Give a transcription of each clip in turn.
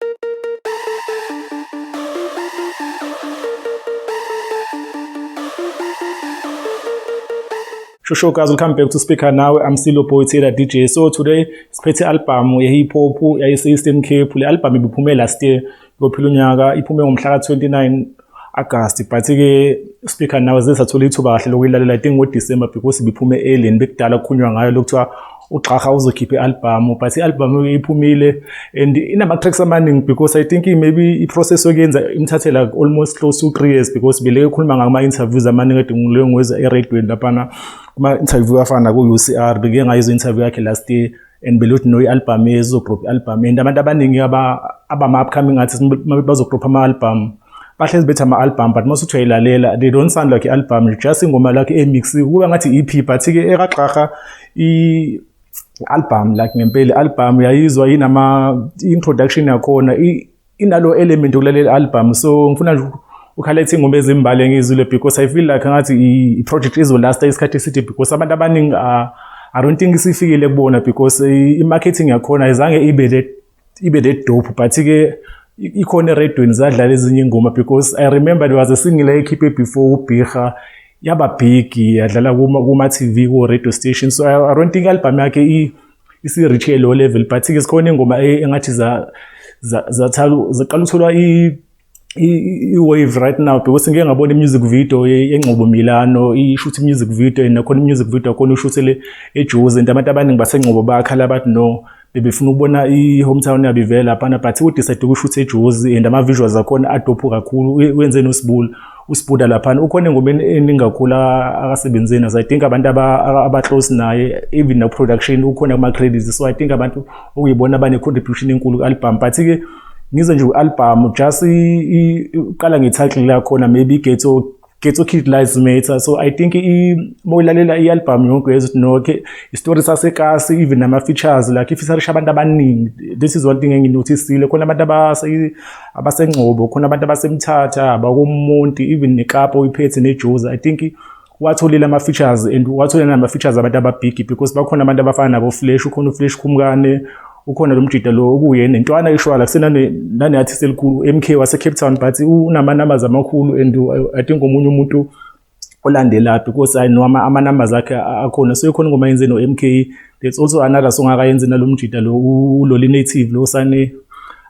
Shusho guys, welcome back to Speaker Now. I'm Silo Boy Taylor DJ. So today siphethe album ye hip hop yayise Eastern Cape. Le album ibiphume last year. Kophila unyaka iphume ngomhla ka 29 August but ke speaker nawe zesathola ithuba kahle lokuyilalela i think ngo December because biphume early bekudala kukhulunywa ngayo lokuthiwa ugxaha uzokhipha i-albhamu but i-albhamu iphumile and inama-tracks amaningi because i think maybe i-process yokuyenza imthathela almost close to three years because beleke khuluma ngama-interviews amaningi edinguleyo ngoza eradweni laphana kuma-interview afana ku-u c r beke ngayizo interview yakhe last year and believe ukuthi no i-album ezizogroup i-album and abantu abaningi abama-upcoming artists bazogroup ama-album bahlezi bethi ama-album but mase uthiwa ilalela they don't sound like i-album just ingoma lakhe emixiwe kuba ngathi i-ep but-ke ekagxarha i-album like ngempela i-album yayizwa inama-introduction yakhona inalo element ukulalela album so ngifuna nje ukhala ithi ingoma ezimbali engizwile because i feel like ngathi i project izolasta isikhathi eside because abantu abaningi ah, i don't think isifikile kubona because i marketing yakhona ayizange ibe that ibe that dope but ke ikhona eredweni zadlala ezinye ingoma because i remember there was a single ekhiphe before ubhiha yaba big yadlala kuma kuma TV ku radio station so i, I don't think album yakhe isi reach ke low level but ke sikhona ingoma e, engathi za zathala zaqala ukuthola i i-wave right now because ngike ngabona i-music video yengcobo milano ishuthi i-music video and nakhona i-music video akhona ushuthele ejozi and abantu abaningi basengcobo bakhala bathi no bebefuna ukubona i-hometown yabo ivela laphana but udecide ukushutha ejozi and ama-visuals akhona adophu kakhulu wenze nosibula usibhuda laphana ukhona engomeni eningi kakhulu akasebenzi nazo i think abantu abaclose naye even no production ukhona kuma-credits so i think abantu okuyibona bane-contribution enkulu ku-album but-ke ngize nje u-album just uqala nge-title lakhona maybe igetho getho kid lies matter so i think uma uyilalela i-album yonke yezuthi noke isitori sasekasi even nama-features like ifisarisha abantu abaningi this is one thing enginotisile khona abantu abasengcobo khona abantu abasemthatha abakomuntu even nekapa uyiphethe nejoza i think watholile ama-features and watholile nama-features abantu ababhigi because bakhona abantu abafana nabo-flash ukhona uflash khumkane ukhona lo mjida lo okuye nentwana ishwala kusenane-artist elikhulu u-m k wasecape town but unama-numbers amakhulu and i think omunye umuntu olandelaphi kosi i know ama numbers akhe akhona so ikhona ngoma yenze no MK there's also another song akayenze nalomjita lo uloli native lo sane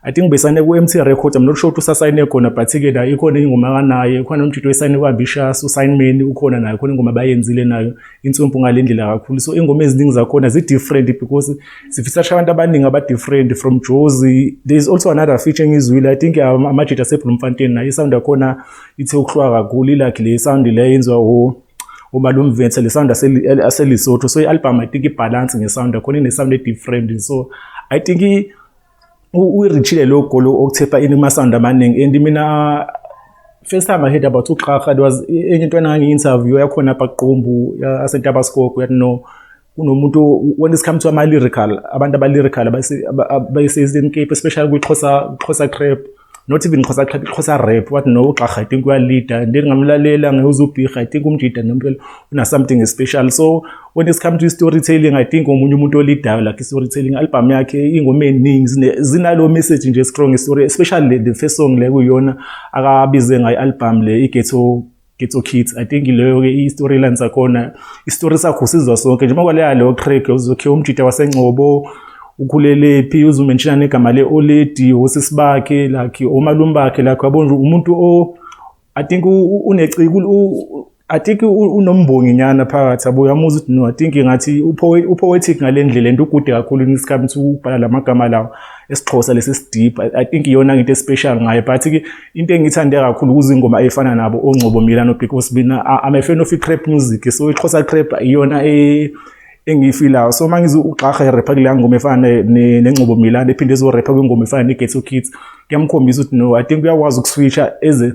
I think besane ku MT record I'm not sure ukuthi usasayine khona but ke la ikhona ingoma kanaye khona umjita oyisayine kwa Bishas usignment ukhona nayo khona ingoma bayenzile nayo insumpu ngalendlela kakhulu so ingoma eziningi zakhona zi different because sifisa abantu abaningi aba different from Jozi there's also another featuring izwile I think amajita sebhlumfanteni naye sound yakhona ithe ukuhlwa kakhulu ilakhe le sound le yenziwa wo uba lo mvethe le sound aselisotho so i-album i think ibhalansi ngesound akhona inesound e-different so i think uyirichile lo golo okuthepa ini amasound amaningi and mina first time i heard about uqhaha it was enye into enangi-interview yakhona apha kuqumbu asentabaskoko yathi no kunomuntu when it comes to ama lyrical abantu aba lyrical abayisezini Cape especially kwi Xhosa Xhosa trap not even Xhosa trap Xhosa rap what no ugxagha i think uya leader then ngamlalela ngeuza ubhigha i think umjida nempela una something special so when it comes to storytelling i think omunye umuntu olidayo like storytelling album yakhe ingoma eningi zinalo message nje strong story especially the first song le kuyona akabize ngayo album le i ghetto Ghetto Kids I think leyo ke i-storyline sakhona i-story sakho sizwa sonke njengoba kwaleya leyo track uzokhe umjita wasengcobo ukhulelephi uzumenshina negama le-oledi osisi bakhe like omalume bakhe like yabo nje umuntu o i think uneciko I think unombongi nyana phakathi yabo uyamuza ukuthi no I think ngathi upoetic ngale ndlela and ugude kakhulu ngesikhathi ukubhala lamagama lawo esixhosa lesi sideep I think iyona into especial ngaye but ke into engiyithande kakhulu kuzingoma efana nabo ongcobo mina nobig osbina i'm a fan of i-crap music so ixhosa crap iyona e, engiyifilayo so uma ngize ugxaha irepha kule ngoma efana nengcobo milana ephinde ezorepha kwingoma efana ne-ghetto kids kuyamkhombisa ukuthi no i think uyakwazi ukuswitcha eze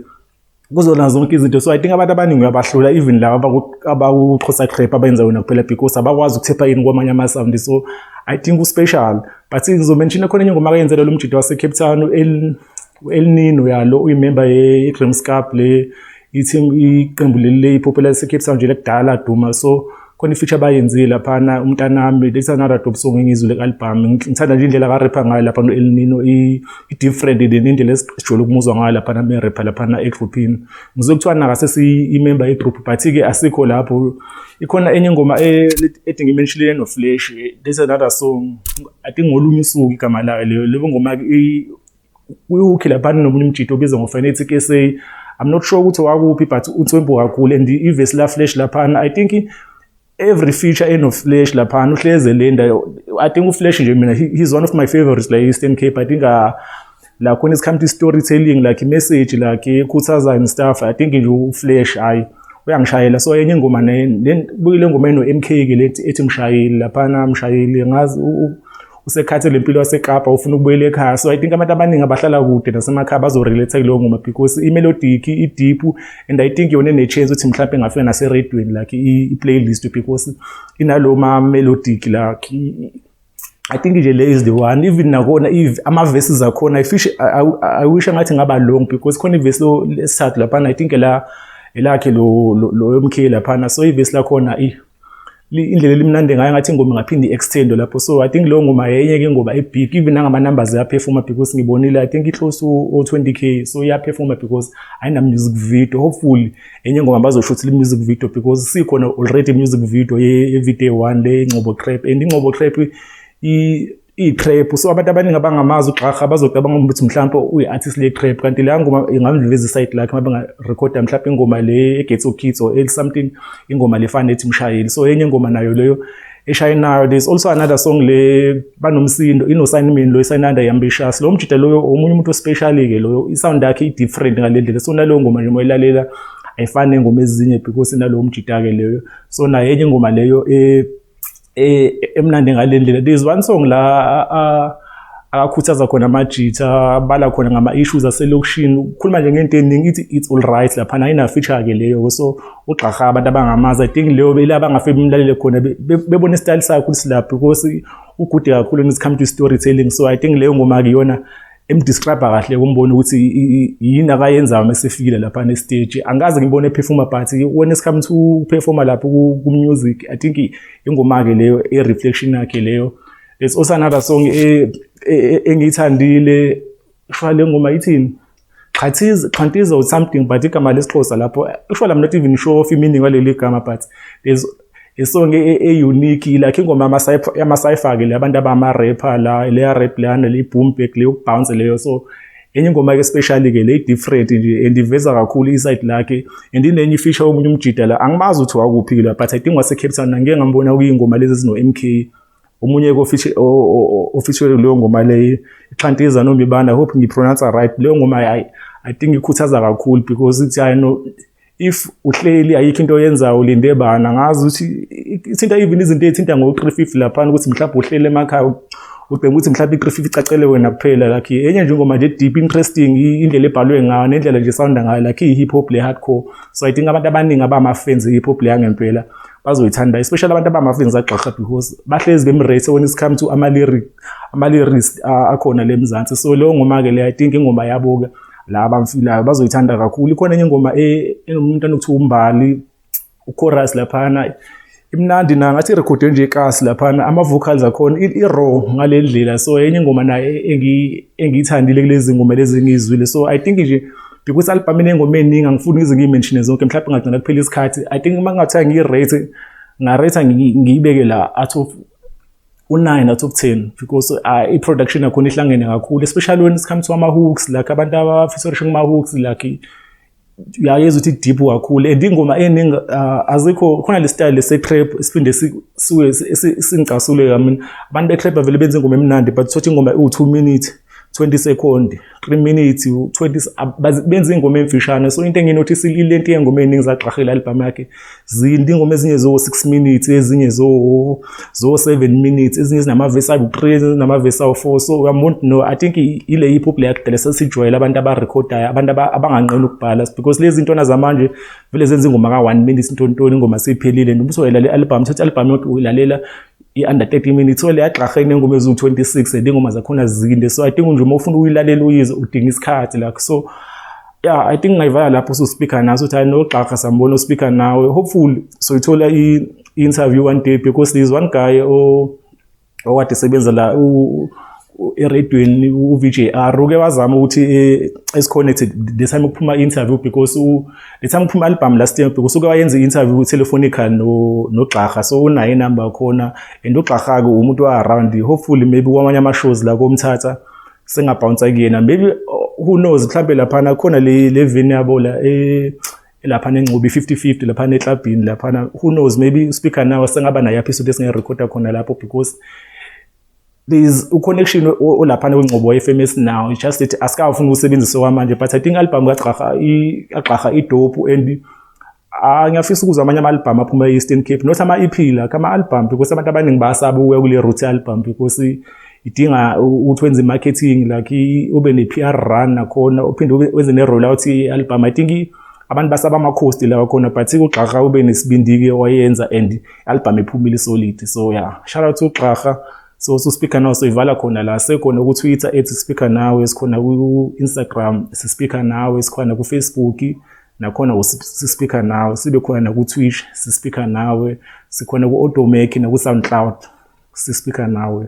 kuzona zonke izinto so i think abantu abaningi uyabahlula even laba abakuxhosa crap abenza yona kuphela because abakwazi ukuthepha yini kwamanye amasawundi so i think uspecial but ngizomenshina khona enye ngoma kayenzelelo umjidi wasecape town U-El Nino yalo uyimemba ye-Graham's Cup le i-team iqembu leli le-Ipopela lase-Cape Town nje lekudala laduma so khona i-feature abayenzile laphana umntanami that's another dope song engiyizwile ku-album ngithanda nje indlela akarepha ngayo laphana u-El Nino i-different than indlela esijwayele ukumuzwa ngayo laphana merepha laphana egruphini ngizwe kuthiwa nakase siyimemba yegroup but-ke asikho lapho ikhona enye ingoma e-, ethi ngimenshilile noflash that's another song i think ngolunye usuku igama layo leyo leyo ngoma kuyukhi laphana nomunye umjito obizwa ngoFanatic SA I'm not sure ukuthi wakuphi but uthwembu kakhulu and ivesi la flash laphana I think every feature eno flash laphana uhleze lenda I think uflash nje mina he's one of my favorites la Eastern Cape I think uh, la khona isikhathi storytelling like message like ekhuthaza and stuff I think nje uflash hayi uyangishayela so enye ingoma ne buyile ngoma eno MK ke lethi ethi mshayeli laphana mshayeli ngazi usekhathele impilo yasekapa ufuna ukubuyela ekhaya so i think abantu abaningi abahlala kude nasemakhaya bazorelate kuleyo ngoma because imelodic ideep and i think yona enechance ukuthi mhlawumbe engafika naseredweni like i-playlist because inalo ma-melodic like I think nje le is the one even nakona if ama-verses akhona ifish I, I, I wish angathi ngaba long because khona ivesi lesithathu laphana I think la elakhe lo lo yomkhile laphana so ivesi lakhona i indlela elimnandi ngayo ngathi ingoma ingaphinde i-extendwe lapho so i think leyo ngoma yayinye-ke ingoma ebig even nangama-numbers iyaphefoma because ngibonile i think i-close o-twenty k so iyaphefoma because ayina-music video hopefully enye ingoma bazoshuthile i-music video because sikhona already i-music video ye-video one le ingcobo crap and ingcobo crap iyitrap so abantu abaningi abangamazi ugxarha bazocabanga ukuthi mhlawumpe uyi-artist le-trap kanti leya ngoma ingamdlulisa isayidi lakhe uma bengarekhoda mhlawumpe ingoma le egates of kids or something ingoma le fana ethi mshayeli so enye ingoma nayo leyo eshayinayo there's also another song le banomsindo inosainimini lo isayinanda yambitious lo mjida loyo omunye umuntu ospecially-ke loyo isound yakhe i-different ngale ndlela so naleyo ngoma nje moyilalela ayifani nengoma ezinye because inalowo mjida-ke leyo so nayo enye ingoma leyo um eh emnandi ngalendlela there's one song la akakhuthaza khona amajitha abala khona ngama issues aselokishini ukhuluma nje ngento eningi ithi it's all right lapha nayi na feature ke leyo so ugxaha abantu abangamazi i think leyo bela abangafe bimlalele khona bebona style sakhe ukuthi lapho because ugude kakhulu when it comes to storytelling so i think leyo ngoma ke yona emdescribe kahle kumbona ukuthi yini akayenzayo uma sefikile lapha ne stage angikaze ngibone ephefuma but when it's come to performer lapho ku music i think ingoma ke leyo e reflection yakhe leyo it's also another song e, e, e, engiyithandile shwa le ngoma ithini Xhathiza Xhantiza or something but igama lesixhosa lapho ushwa I'm not even sure of meaning waleli gama but there's isong e-unique e, like ingoma yamasayifake le abantu abama-rapper la leya rap leyana leyi-boom back leyokubounce leyo so enye ingoma ke especially ke le different nje and iveza kakhulu iside lakhe and inenye ifisha omunye umjida la angimazi ukuthi wakuphi la but i think wase Cape Town ngeke ngambona kuyingoma lezi zino MK omunye ofeature leyo ngoma leyo ixhantiza nomibanda hope ngipronounce right leyo ngoma i i think ikhuthaza kakhulu because ithi i know if uhleli ayikho into oyenzayo ulinde bana ngazi ukuthi ithinta even izinto ezithinta ngo-350 laphana ukuthi mhlawumbe uhleli emakhaya ubheka ukuthi mhlawumbe i-350 icacele wena kuphela lakhi enye nje ingoma nje deep interesting indlela ebhalwe ngayo nendlela nje sounda ngayo lakhi i-hip hop le-hardcore so i think abantu abaningi abama-fans e-hip hop le yangempela bazoyithanda especially abantu abama-fans agxagxa because bahlezi bemrate when it's come to ama-lyrics akhona le mzansi so leyo ngoma-ke le i think ingoma yabo-ke la abamfilayo bazoyithanda kakhulu ikhona enye ingoma e, enomuntu anokuthiwa umbali uchorus laphana imnandi na ngathi irekhode nje ikasi laphana ama-vocals akhona i-raw ngale ndlela so enye ingoma naye engiyithandile kulezi ngoma lezi engiyizwile so i think nje because album inengoma eningi angifuni ngize ngiyimenshine zonke mhlawumbe ngagcina kuphela isikhathi i think uma ngathiwa ngiyirate ngarate ngiyibeke la out of u-9 out of 10 because uh, i-production yakhona ihlangene kakhulu especially when it comes to ama-hooks like abantu abafisa urisho kuma-hooks like uyayeza ukuthi deep kakhulu and ingoma eningi uh, azikho khona le style se-trap siphinde singicasule kamina abantu be-trap avele benza ingoma emnandi but thothi ingoma iwu-two minute 20 second 3 minutes 20 benza ingoma emfishane so into enginothisa ile nto yengoma eningi zagqahela album yakhe zindi ingoma ezinye zo 6 minutes ezinye zo zo 7 minutes ezinye zinama verse awu 3 nama verse awu 4 so uyamond no i think ile hip hop yakhe dela sesijwayela abantu aba recordayo abantu abanganqeni ukubhala because lezi zinto zamanje vele zenza ingoma ka 1 minute intontoni ingoma seyiphelile noma usoyela le album thatha album yonke uyilalela i-under 30 minutes ole yagxarha inengoma eziwu-26 and ingoma zakhona zinde so i think nje uma ufuna ukuyilalela uyize udinga isikhathi like so yeah i think ngayivala lapho ususpeaker naso ukuthi anogxarha sambona ospeaker nawe hopefully soyithola i-interview one day because there is one guy owade sebenza la eredweni uVJR uke wazama ukuthi eh, esiconnected the time ukuphuma interview because u the time ukuphuma album last year because uke wayenza interview telefonica no nogxaha so unayo number khona and ugxaha ke umuntu wa around hopefully maybe kwamanye ama shows la komthatha singabhounsa kuyena maybe oh, who knows mhlambe lapha na khona le le vini yabo la eh lapha nenqobi 50-50 lapha neklabhini lapha who knows maybe speaker nawe sengaba nayo episode esingerecorda khona lapho because there's uconnection olaphana kwengcobo FM esinawo it's just that asikafuni ukusebenzisa kwamanje but i think album kagxaha agxaha idopu and ah, ngiyafisa ukuzwa amanye ama-albhamu aphuma e-eastern cape not ama-ep la kama-albhamu because abantu abaningi bayasaba ukuya kule root albhamu because idinga ukuthi wenze i-marketing like ube ne-p r run nakhona uphinde wenze ne-roll out i-albhamu i think abantu basaba amakhosti lawa khona but kugxaha ube nesibindi-ke wayenza and albhamu ephumile isolidi so ya yeah. shout out to xarha so so speaker nawe soyivala khona la sekhona ku Twitter ethi speaker nawe sikhona ku Instagram si speaker nawe sikhona ku Facebook nakhona si speaker nawe sibe khona na ku Twitch si speaker nawe sikhona ku Automake na ku SoundCloud si speaker nawe